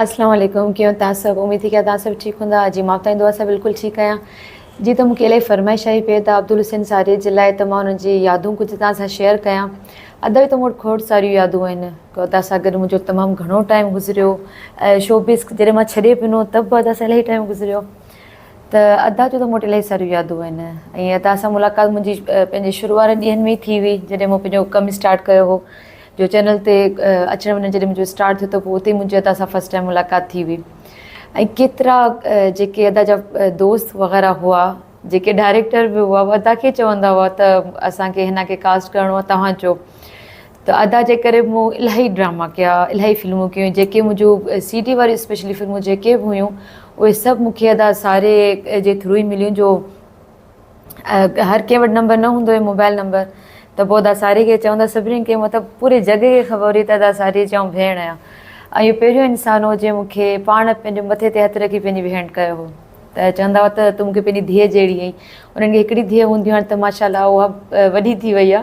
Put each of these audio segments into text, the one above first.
اسلام عليڪم ڪيون تان سڀ اميد ٿي ڪيا تان سڀ ٺيڪ ھوندا اڄ جي مافتائين دعا سان بلڪل ٺيڪ آھيان جي ته مون کي الائي فرمائش آھي پئي ته عبدالحسين ساريء جي لاء ته مان انھن جي يادون ڪجھ تان سان شيئر ڪيان ادا جي ته مون وٽ کوڙ ساريون يادون آھن ادا سان گڏ منھنجو تمام گھڻو ٽائيم گذريو شوبز جڏھن مان ڇڏي پنو ته به ادا سان الائي ٽائيم گذريو ته ادا جون ته مون وٽ الائي ساريون يادون آھن ۽ ادا سان ملاقات منھنجي پنھنجي شروع وارن ڏينھن ۾ ئي ٿي ھئي جڏھن مون پنھنجو ڪم اسٽارٽ ڪيو ھو جو چينل تي اچڻ وڃڻ جڏهن منهنجو اسٽارٽ ٿيو ته پوء اتي منهنجي ادا سان فرسٽ ٽائيم ملاقات ٿي هئي ۽ ڪيترا جيڪي ادا جا دوست وغيره هئا جيڪي ڊائريڪٽر به هئا ادا کي چوندا هئا ته اسان کي هن کي ڪاسٽ ڪرڻو آهي توهان چو ته ادا جي ڪري مون الاهي ڊراما ڪيا الاهي فلمون ڪيون جيڪي منهنجو سي ٽي واريون اسپيشلي فلمون جيڪي به هيون اهي سڀ مون کي ادا ساري جي ٿرو ئي مليون جو هر ڪنهن وٽ نمبر نه هوندو هي موبائل نمبر ته پوء ادا ساري کي چئون ته سڀني کي مطلب پوري جڳ کي خبر هئي ته ادا ساري چئون ڀيڻ آ ۽ اهو پهريون انسان هو جنهن مون کي پاڻ پنهنجي مٿي تي هٿ رکي پنهنجي ڀيڻ ڪيو هو ته چوندا هئا ته تون مون کي پنهنجي ڌيء جهڙي آهين انهن کي هڪڙي ڌيء هونديون هاڻي ته ماشاء الله اها وڏي ٿي وئي آ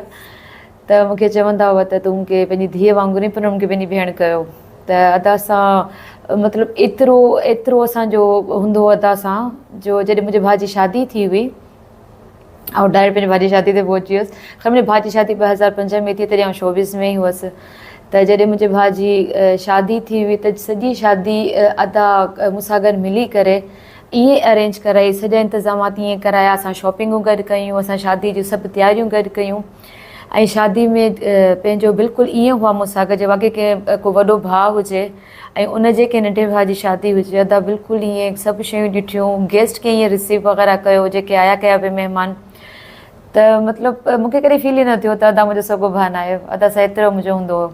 ته مون کي چوندا هئا ته تون مون کي پنهنجي ڌيء وانگر ۽ پنڻ مون کي پنهنجي ڀيڻ ڪيو ته ادا سان مطلب ايترو ايترو اسان جو هوندو هو ادا سان جو جڏهن منهنجي ڀاء جي شادي ٿي هئي آئون ڊائريڪٽ پنهنجي ڀاء جي شادي تي پهچي ويس خير منهنجي ڀاء جي شادي ٻه هزار پنج ۾ ٿي تڏهن آئون شوبز ۾ ئي هئس ته جڏهن منهنجي ڀاء جي شادي ٿي هئي ته سڄي شادي ادا مون سان گڏ ملي ڪري ائين ارينج ڪرائي سڄا انتظامات ائين ڪرايا اسان شاپنگون گڏ ڪيون اسان شادي جون سڀ تياريون گڏ ڪيون ۽ شادي ۾ پنهنجو بلڪل ائين هئا مون سان جي واقعي ڪنهن ڪو وڏو ڀاء هجي ۽ ان جي ڪنهن ننڍي ڀاء جي شادي هجي ادا بلڪل ائين سڀ شيون ڏٺيون گيسٽ کي ائين رسيو وغيره ڪيو جيڪي آيا ڪيا به مهمان ته مطلب مون کي ڪڏهن فيل ئي نه ٿيو ته ادا منهنجو سڳو ڀاء نه آيو ادا سا ايترو منهنجو هوندو هو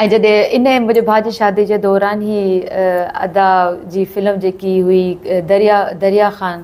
۽ جڏهن ان منهنجي ڀاء جي شادي جي دوران هي ادا جي فلم جيڪي هئي دريا دريا خان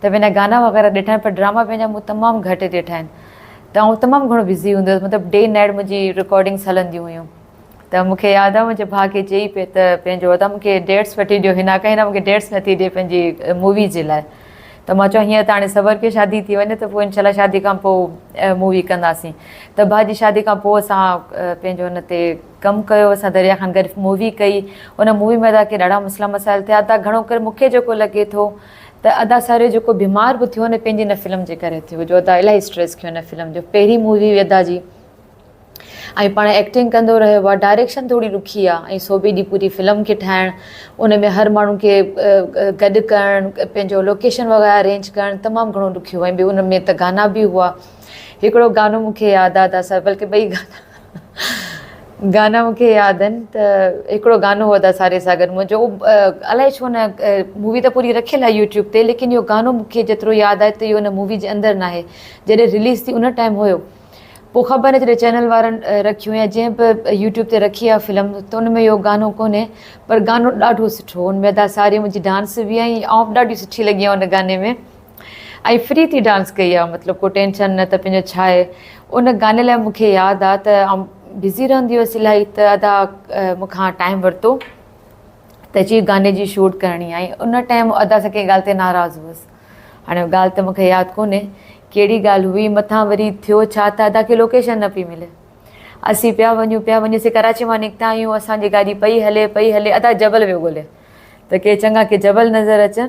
ته به نه گانا وغيره ڏٺا آهن پر ڊراما پنهنجا مون تمام گهٽ ڏٺا آهن ته آئون تمام گهڻو بزي هوندي هيس مطلب ڊي نائيٽ منهنجي رڪارڊنگس هلنديون هيون ته مون کي ياد آهي منهنجي ڀاء کي چئي پئي ته پنهنجو ادا مون کي ڊيٽس وٺي ڏيو هنا ڪا هنا مون کي ڊيٽس نٿي ڏي پنهنجي مووي جي لاء ته مان چيو هينئر ته هاڻي صبر ڪيو شادي ٿي وڃي ته پوء انشاء الله شادي کان پوء مووي ڪنداسين ته ڀاء جي شادي کان پوء اسان پنهنجو هن تي ڪم ڪيو اسان دريا خان گڏ مووي ڪئي ان مووي ۾ ادا کي ڏاڍا مسئلا مسائل ٿيا ادا گهڻو ڪري مون کي جيڪو لڳي ٿو ته ادا ساريو جيڪو بيمار به ٿيو نه پنهنجي ان فلم جي ڪري ٿيو جو ادا الاهي اسٽريس کيو ان فلم جو پهرين مووي هئي ادا جي ۽ پاڻ ايڪٽنگ ڪندو رهيو آ ڊائريڪشن ٿوري ڏکي آ ۽ سو به ڏي پوري فلم کي ٺاهڻ ان ۾ هر ماڻهو کي گڏ ڪرڻ پنهنجو لوڪيشن وغيره ارينج ڪرڻ تمام گهڻو ڏکيو ۽ ٻيو ان ۾ ته گانا به هئا هڪڙو گانو مون کي ياد آ ادا سر بلڪه ٻئي گانا گانا مون کي ياد آهن ته هڪڙو گانو هو ادا ساري ساگر منهنجو الائي ڇو نه مووي ته پوري رکيل آهي يوٽيوب تي ليڪن اهو گانو مون کي جيترو ياد آهي ته اهو ان مووي جي اندر ناهي جڏهن رليز ٿي ان ٽائيم هيو پوء خبر نه جڏهن چينل وارن رکيو يا جنهن به يوٽيوب تي رکي آهي فلم ته ان ۾ اهو گانو ڪونهي پر گانو ڏاڍو سٺو هو ان ۾ ادا ساري منهنجي ڊانس بي ۽ آئون به ڏاڍي سٺي لڳي آهيان ان گاني ۾ ۽ فري ٿي ڊانس ڪئي آ مطلب ڪو ٽينشن نه ته پنهنجو ڇا آهي ان گاني لاء مون کي ياد آ ته آئون بزي رهندي هيس الاهي ته ادا مون کان ٽائيم ورتو ته چي گاني جي شوٽ ڪرڻي آهي ان ٽائيم ادا سان ڪنهن ڳالهه تي ناراض هوس هاڻي ڳالهه ته مون کي ياد ڪونهي ڪهڙي ڳالهه هئي مٿان وري ٿيو ڇا ته ادا کي لوڪيشن نه پئي ملي اسين پيا وڃون پيا وڃون اسين ڪراچي مان نڪتا آهيون اسان جي گاڏي پئي هلي پئي هلي ادا جبل ويو ڳولي ته ڪي چڱا ڪي جبل نظر اچن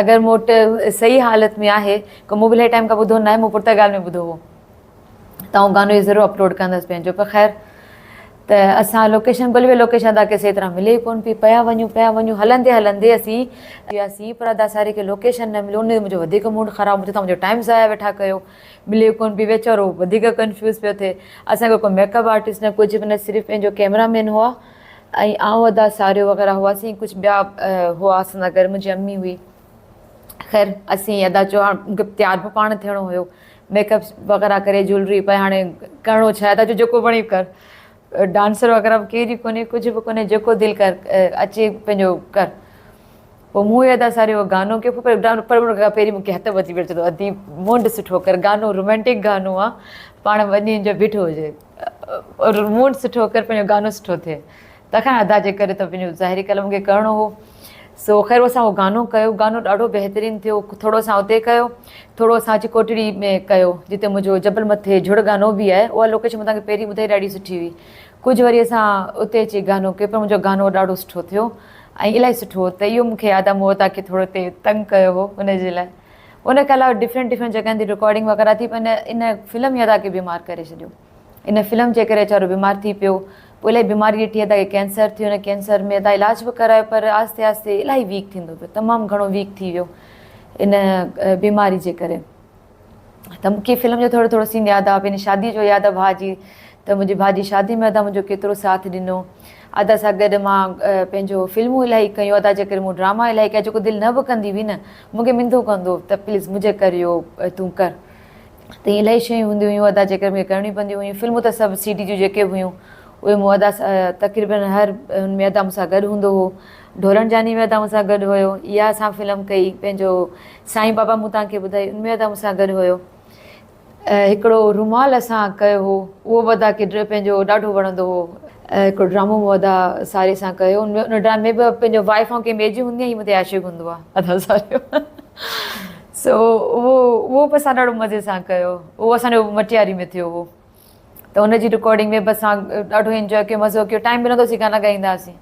اگر مون وٽ صحيح حالت ۾ آهي ڪو مون به الائي ٽائيم کان ٻڌو ناهي مون پرتگال ۾ ٻڌو هو ته آئون گانو اهو ضرور اپلوڊ ڪندس پنهنجو پر خير ته اسان لوڪيشن ڳولي ويا لوڪيشن ادا کي صحيح طرح ملي ئي ڪون پئي پيا وڃون پيا وڃون هلندي هلندي اسين وياسين پر ادا ساري کي لوڪيشن نه مليو ان تي منهنجو وڌيڪ موڊ خراب مون چيو تون منهنجو ٽائيم ضايع ويٺا ڪيو ملي ڪون پئي ويچارو وڌيڪ ڪنفيوز پيو ٿئي اسان کي ڪو ميڪ اپ آرٽسٽ نه ڪجهه به نه صرف پنهنجو ڪيمرا مين هئا ۽ آئون ادا ساريو وغيره هئاسين ڪجهه ٻيا هئا اسان سان گڏ منهنجي امي هئي خير اسين ادا چيو هاڻ مون کي تيار به پاڻ ٿيڻو هيو ميڪ اپ وغيره ڪري جولري پائي هاڻي ڪرڻو ڇا ادا چيو جيڪو وڻي ڪر ڊانسر وغيره به ڪير ئي ڪونهي ڪجهه به ڪونهي جيڪو دل ڪر اچي پنهنجو ڪر پوء مون ادا ساريو گانو ڪيو پر پهرين مون کي هٿ وڌي ويو چيو ادي منهن ڏس سٺو ڪر گانو رومانٽڪ گانو آهي پاڻ وڃي جو بيٺو هجي موڊ سٺو ڪر پنهنجو گانو سٺو ٿئي تکان ادا جي ڪري ته پنهنجو ظاهري قلم کي ڪرڻو هو سو خير اسان اهو گانو ڪيو گانو ڏاڍو بهترين ٿيو ٿورو اسان اتي ڪيو ٿورو اسان اچي ڪوٽڙي ۾ ڪيو جتي منهنجو جبل مٿي جھڙ گانو به آهي اها لوڪيشن متان کي پهرين ٻڌائي ڏاڍي سٺي هئي ڪجهه وري اسان اتي اچي گانو ڪيو پر منهنجو گانو ڏاڍو سٺو ٿيو ۽ الاهي سٺو هو ته اهو مونکي ادا مون ادا کي ٿورو تي تنگ ڪيو هو ان جي لاء ان کان علاوه ڊفرنٽ ڊفرنٽ جڳهن تي رڪارڊنگ وغيره ٿي پر ان ان فلم هي ادا کي بيمار ڪري ڇڏيو ان فلم جي ڪري ويچارو بيمار ٿي پيو پوء الاهي بيماري ڏٺي ادا کي ڪينسر ٿيو ان ڪينسر ۾ ادا علاج به ڪرايو پر آهستي آهستي الاهي ويڪ ٿيندو پيو تمام گهڻو ويڪ ٿي ويو ان بيماري جي ڪري ته مونکي فلم جو ٿورو ٿورو سين ياد آهي پنهنجي شادي جو ياد آهي ڀاء جي ته منهنجي ڀاء جي شادي ۾ ادا منهنجو ڪيترو ساٿ ڏنو ادا سان گڏ مان پنهنجو فلمون الاهي ڪيون ادا جي ڪري مون ڊراما الاهي ڪيا جيڪو دل نه به ڪندي هئي نه مون کي منڌو ڪندو ته پليز منهنجي ڪر اهو تون ڪر تي الائي شيون هونديون هيون ادا جيڪي مون کي ڪرڻيون پونديون هيون فلمون ته سڀ سي ڊي جون جيڪي به هيون اهي مون ادا تقريبا هر ان ۾ ادا مون سان گڏ هوندو هو ڍورڻ جاني ۾ ادا مون سان گڏ هيو اها اسان فلم ڪئي پنهنجو سائين بابا مون تان کي ٻڌائي ان ۾ ادا مون سان گڏ هيو هڪڙو رومال اسان ڪيو هو اهو ودا ڪيٽر پنهنجو ڏاڍو وڻندو هو هڪڙو ڊرامو ودا ساري سان ڪيو ان ان ڊرامي ۾ به پنهنجو وائف ۽ ڪنهن ٻئي جي هوندي هي متي عاشق هوندو آ ادا ساريو سو اهو اهو به اسان ڏاڍو مزي سان ڪيو اهو اسان جو مٽياري ۾ ٿيو هو ته ان جي رڪارڊنگ ويب اسان ڏاڍو انجوائي ڪيو مزو ڪيو ٽائيم ملندو سي گانا ڳائيندا هئاسين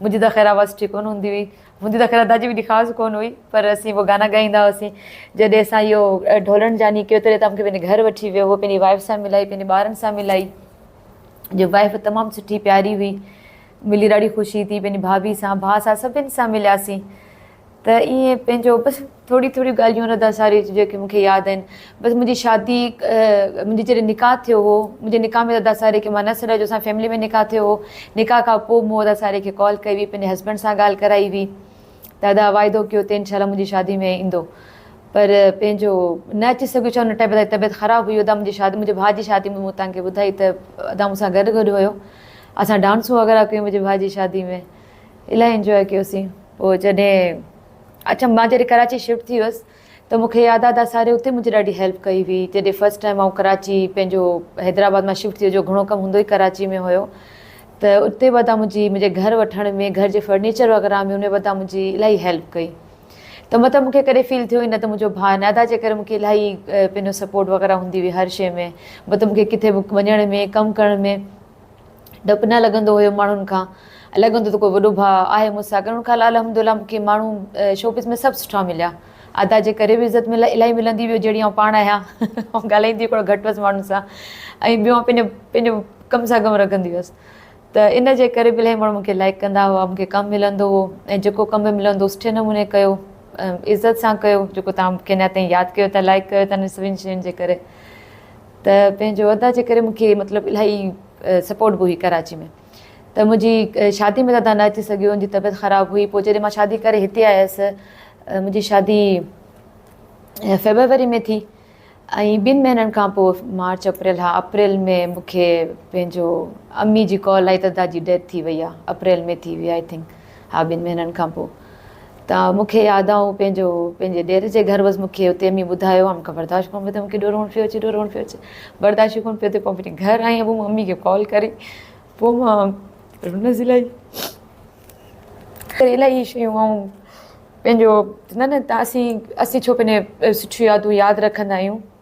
منهنجي ته خير آواز ٺيڪ ڪونه هوندي هئي منهنجي ته خير ادا جي به ايڏي خاص ڪونه هئي پر اسين هو گانا ڳائيندا هئاسين جڏهن اسان اهو ڍولڻ جاني ڪيو تڏهن ته مونکي پنهنجي گهر وٺي ويو هو پنهنجي وائف سان ملائي پنهنجي ٻارن سان ملائي جو وائف تمام سٺي پياري هئي ملي ڏاڍي خوشي ٿي پنهنجي ڀاڀي سان ڀاء سان سڀني سان ملياسين ته ائين پنهنجو بس ٿوريون ٿوريون ڳالهيون رضا ساريء جون جيڪي مون کي ياد آهن. بس منهنجي شادي منهنجي جڏهن نڪاح ٿيو هو، منهنجي نڪاح ۾ رضا ساريء کي مان نه سڏايو جو اسان جي فيملي ۾ نڪاح ٿيو هو. نڪاح کان پوء مون رضا ساريء کي ڪال ڪئي هئي، پنهنجي هسبنڊ سان ڳالهه ڪرائي هئي ته ادا واعدو ڪيو ته انشاء الله منهنجي شادي ۾ ايندو پر پنهنجو نه اچي سگهيو ڇا ان ٽائيم ادا جي طبيعت خراب هئي ادا منهنجي شادي منهنجي ڀاء جي شادي ۾ مون توهان کي ٻڌائي ته ادا مون سان گڏ گڏ هيو اسان ڊانسون وغيره ڪيون منهنجي ڀاء جي شادي ۾. الاهي انجوائي ڪيوسين پوء جڏهن اچم مان جڏهن ڪراچي شفٽ ٿي هيس ته مونکي ياد آ ته ساري اتي منهنجي ڏاڍي هيلپ ڪئي هئي جڏهن فرسٽ ٽائيم آئون ڪراچي پنهنجو حيدرآباد مان شفٽ ٿيو جو گهڻو ڪم هوندو ئي ڪراچي ۾ هيو ته اتي به تان منهنجي منهنجي گهر وٺڻ ۾ گهر جي فرنيچر وغيره ۾ ان ودا منهنجي الاهي هيلپ ڪئي ته مطلب مونکي ڪڏهن فيل ٿيو ئي نه ته منهنجو ڀاء نادا جي ڪري مونکي الاهي پنهنجو سپورٽ وغيره هوندي هئي هر شي ۾ مطلب مونکي ڪٿي به وڃڻ ۾ ڪم ڪرڻ ۾ ڊپ نه لڳندو هيو ماڻهن کان لڳندو ته ڪو وڏو ڀاء آهي مون سان ڪرڻ کان الحمدالله مون کي ماڻهو شوپيس ۾ سڀ سٺا مليا ادا جي ڪري به عزت ملي الائي ملندي ويو جهڙي آئون پاڻ آهيان آئون ڳالهائيندي ڪوڙو گهٽ هئس ماڻهن سان ۽ ٻيو آئون پنهنجو پنهنجو ڪم سان ڪم رکندي هئس ته ان جي ڪري به الائي ماڻهو مون کي لائڪ ڪندا هئا مون کي ڪم ملندو هو ۽ جيڪو ڪم به ملندو سٺي نموني ڪيو عزت سان ڪيو جيڪو تان کي اڃا تائين ياد ڪيو ٿا لائڪ ڪيو ٿا ان سڀني شين جي ڪري ته پنهنجو ادا جي ڪري مون کي مطلب الاهي سپورٽ به هئي ڪراچي ۾ ته منهنجي شادي ۾ ادا نه اچي سگهيو ان جي طبيعت خراب هئي پوء جڏهن مان شادي ڪري هتي آيس منهنجي شادي فيبروري ۾ ٿي ۽ ٻن مهينن کان پوء مارچ اپريل ها اپريل ۾ مون کي پنهنجو امي جي ڪال آئي ته ادا جي ڊيٿ ٿي وئي آهي اپريل ۾ ٿي وئي آئي ٿنڪ ها ٻن مهينن کان پوء ته مون کي ياد آ آئون پنهنجو پنهنجي ڏير جي گهر هئس مون کي اتي امي ٻڌايو هئا مون کان برداشت ڪونه پيو ٿي مون کي ڏور روئڻ پيو اچي ڏور روئڻ پيو اچي برداشت ئي ڪونه پيو ٿي پوء وڃي گهر آئي پوء ممي کي ڪال ڪري پوء ماء رونس الاهي ڪري الاهي شيون آئون پنهنجو نه نه تاسين اسين ڇو پنهنجي سٺيون يادون ياد رکندا آهيون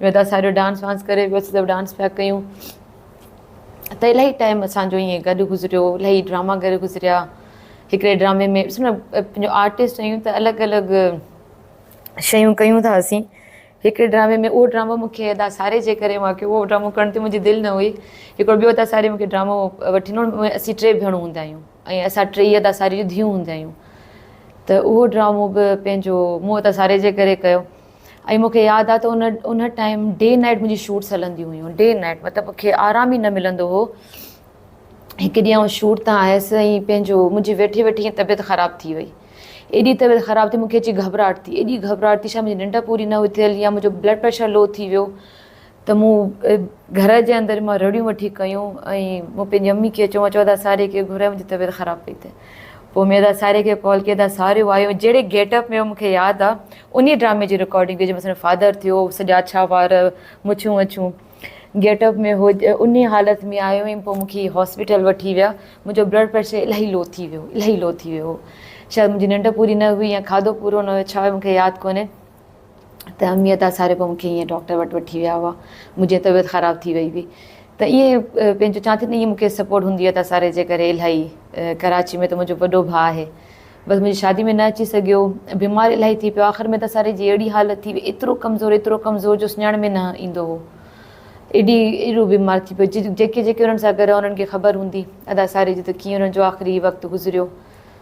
ويدا ساهرو ڊانس وانس ڪري ويو سڀ ڊانس پيا ڪيون ته الائي ٽائيم اسان جو ائين گڏ گذريو الائي ڊراما گڏ گذريا هڪڙي ڊرامي ۾ پنهنجو آرٽسٽ آهيون ته الڳ الڳ شيون ڪيون ٿا اسين هڪڙي ڊرامي ۾ اهو ڊرامو مونکي ادا ساري جي ڪري مونکي اهو ڊرامو ڪرڻ تي منهنجي دل نه هئي هڪڙو ٻيو ادا ساري مونکي ڊرامو وٺي ڏنو ۽ اسين ٽي ڀيڻون هوندا آهيون ۽ اسان ٽي ادا ساري جون ڌيون هوندا آهيون ته اهو ڊرامو به پنهنجو مون ادا ساري جي ڪري ڪيو ۽ مون کي ياد آ ته ان ان ٽائيم ڊي نائيٽ منهنجي شوٽس هلنديون هيون ڊي نائيٽ مطلب مون کي آرام ئي نه ملندو هو هڪ ڏينهن آئون شوٽ تان آيس ۽ پنهنجو منهنجي ويٺي ويٺي ائين طبيعت خراب ٿي وئي ايڏي طبيعت خراب ٿي مون کي اچي گهٻراهٽ ٿي ايڏي گهٻراهٽ ٿي شايد منهنجي ننڊ پوري نه هئي ٿيل يا منهنجو بلڊ پريشر لو ٿي ويو ته مون گهر جي اندر مان رڙيون وٺي ڪيون ۽ مون پنهنجي امي کي چيو چودا ساري کي گهرايو منهنجي طبيعت خراب پئي ٿئي پوء ميدا ساري کي ڪال ڪئي ته ساريو آيو جهڙي گيٽ اپ ۾ مون کي ياد آ انهي ڊرامي جي رڪارڊنگ جنهن ۾ سندس فادر ٿيو سڄا اڇا وار مڇون وڇون گيٽ اپ ۾ هو انهي حالت ۾ آيو ۽ پوء مون کي هاسپيٽل وٺي ويا منهنجو بلڊ پريشر الاهي لو ٿي ويو الاهي لو ٿي ويو هو شايد منهنجي ننڊ پوري نه هئي يا کاڌو پورو نه هيو ڇا هيو مون کي ياد ڪونهي ته اميء ته اساري پوء مون کي ائين ڊاڪٽر وٽ وٺي ويا هئا. منهنجي طبيعت خراب ٿي وئي هئي ته ائين پنهنجو چوان ٿي نه ائين مون کي سپورٽ هوندي هئي ته اساري جي ڪري الاهي ڪراچي ۾ ته منهنجو وڏو ڀاء آهي بس منهنجي شادي ۾ نه اچي سگهيو بيمار الاهي ٿي پيو آخر ۾ ته اساري جي اهڙي حالت ٿي وئي ايترو ڪمزور ايترو ڪمزور جو سڃاڻ ۾ نه ايندو هو ايڏي ايڏو بيمار ٿي پيو جيڪي جيڪي انهن سان گڏ هئا انهن کي خبر هوندي ادا اساري جي ته ڪيئن انهن جو آخري وقت گذريو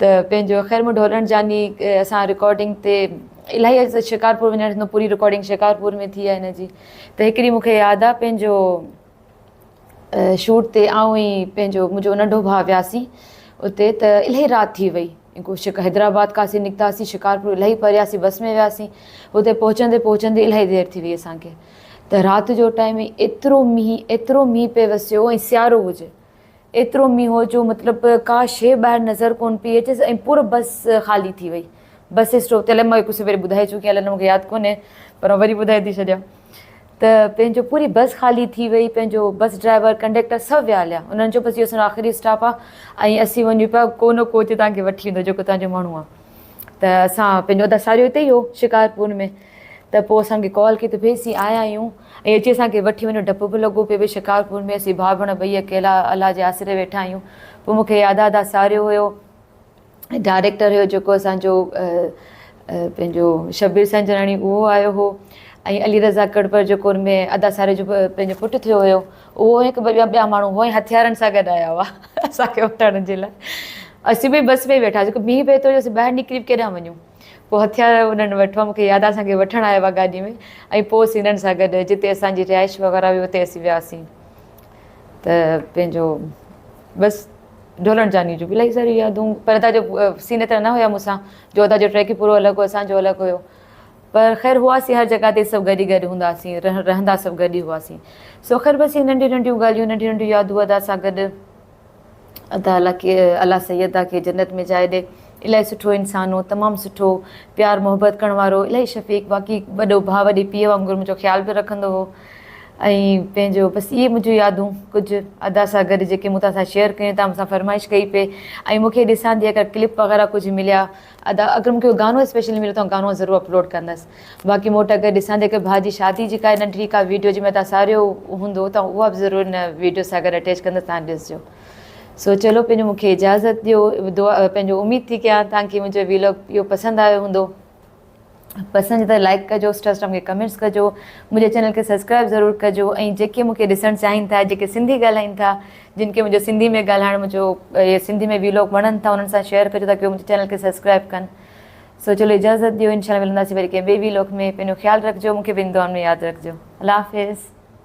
ته پنهنجو خرم ڍولڻ جاني اسان رڪارڊنگ تي الاهي اڄ ته شڪارپور وڃڻ ٿيندو پوري رڪارڊنگ شڪارپور ۾ ٿي آ هن جي ته هڪ ڏينهن مون کي ياد آ پنهنجو شوٽ تي آئون ۽ پنهنجو منهنجو ننڍو ڀاء وياسين اتي ته الاهي رات ٿي وئي شڪ حيدرآباد کان اسين نڪتاسين شڪارپور الاهي پرياسين بس ۾ وياسين اتي پهچندي پهچندي الاهي دير ٿي وئي اسان کي ته رات جو ٽائيم ايترو مينهن ايترو مينهن پئي وسيو ۽ سيارو هجي ايترو مينهن هو جو مطلب ڪا شيء ٻاهر نظر ڪونه پئي اچيس ۽ پور بس خالي ٿي وئي. بس اسٽاپ تي الائي مان هڪ سويري ٻڌائي چڪي آهيان الائي نه مون کي ياد ڪونهي پر وري ٻڌائي ٿي ڇڏيان ته پنهنجو پوري بس خالي ٿي وئي پنهنجو بس ڊرائيور ڪنڊيڪٽر سڀ ويا هليا انهن چيو بس اهو اسان جو آخري اسٽاپ آهي ۽ اسين وڃون پيا ڪو نه ڪو اتي توهان کي وٺي ويندو جيڪو توهان جو ماڻهو آهي ته اسان پنهنجو اداساريو اتي ئي هو شڪارپور ۾ ته پوء اسان کي ڪال ڪئي ته ڀي اسين آيا آهيون ۽ اچي اسان کي وٺي وڃو ڊپ به لڳو پيو ڀي شڪارپور ۾ اسين ڀاء ڀيڻ ٻئي اڪيلا الله جي آسري ويٺا آهيون پوء مون کي ادا ادا ساريو هيو ۽ ڊائريڪٽر هيو جيڪو اسان جو پنهنجو شبير سنجراڻي اهو آيو هو ۽ علي رضا ڪڙپر جيڪو ان ۾ ادا ساريو جو پنهنجو پٽ ٿيو هيو اهو هڪ ٻه ٻيا ٻيا ماڻهو هئا ۽ هٿيارن سان گڏ آيا هئا اسان کي وٺڻ جي لاء اسين ڀي بس ۾ ويٺاسين ڀي پئي ٿو جو اسين ٻاهر نڪري به ڪيڏانهن وڃون پوء هٿيار انهن وٽ هئا، مون کي ياد آهي اسان کي وٺڻ آيا هئا گاڏي ۾ ۽ پوء اسين هنن سان گڏ جتي اسان جي رهائش وغيره هئي اتي اسين وياسين ته پنهنجو بس ڍولڻ جاني جون به الاهي ساريون يادون پر ادا جو سين ايترا نه هيا مون سان جو ادا جو ٽريڪ ئي پورو الڳ هو اسان جو الڳ هيو پر خير هئاسين هر جڳهه تي سڀ گڏ ئي گڏ هونداسين رهندا سڀ گڏ ئي هئاسين سو خير بس هي ننڍيون ننڍيون ڳالهيون ننڍيون ننڍيون يادون ادا سان گڏ ادا الله کي الله سيدا کي جنت ۾ جاء ڏي الائي سٺو انسان هو تمام سٺو پيار محبت ڪرڻ وارو الائي شفيق واقعي وڏو ڀاء وڏي پيء وانگر منهنجو خيال به رکندو هو ۽ پنهنجو بس اهي منهنجون يادون ڪجهه ادا سان گڏ جيڪي مون تان سان شيئر ڪيون تان مون سان فرمائش ڪئي پئي ۽ مونکي ڏسان ٿي اگر ڪلپ وغيره ڪجهه مليا ادا اگر مونکي ڪو گانو اسپيشل مليو ته آئون گانو ضرور اپلوڊ ڪندس باقي مون وٽ اگر ڏسان ٿي ڪي ڀاء جي شادي جي ڪا ننڍڙي ڪا ويڊيو جنهن ۾ تان ساريو هوندو ته اها به ضرور هن ويڊيو سان گڏ اٽيچ ڪندس تان ڏسجو سو چلو پنهنجو مونکي اجازت ڏيو دعا پنهنجو اميد ٿي ڪيان تان ڪي منهنجو ويلاگ اهو پسند آيو هوندو. پسند ته لائيڪ ڪجو اسٽاسٽام کي ڪمينٽس ڪجو منهنجي چينل کي سبسڪرائيب ضرور ڪجو ۽ جيڪي مونکي ڏسڻ چاهين ٿا جيڪي سنڌي ڳالهائين ٿا جن کي منهنجو سنڌي ۾ ڳالهائڻ منهنجو سنڌي ۾ ويلوگ وڻن ٿا انهن سان شيئر ڪجو تاڪي منهنجي چينل کي سبسڪرائيب ڪن سو چلو اجازت ڏيو انشاء الله ملنداسي وري ڪنهن ٻي ويلوگ ۾ پنهنجو خيال رکجو مونکي پنهنجي دعائن ۾ ياد رکجو الله حافظ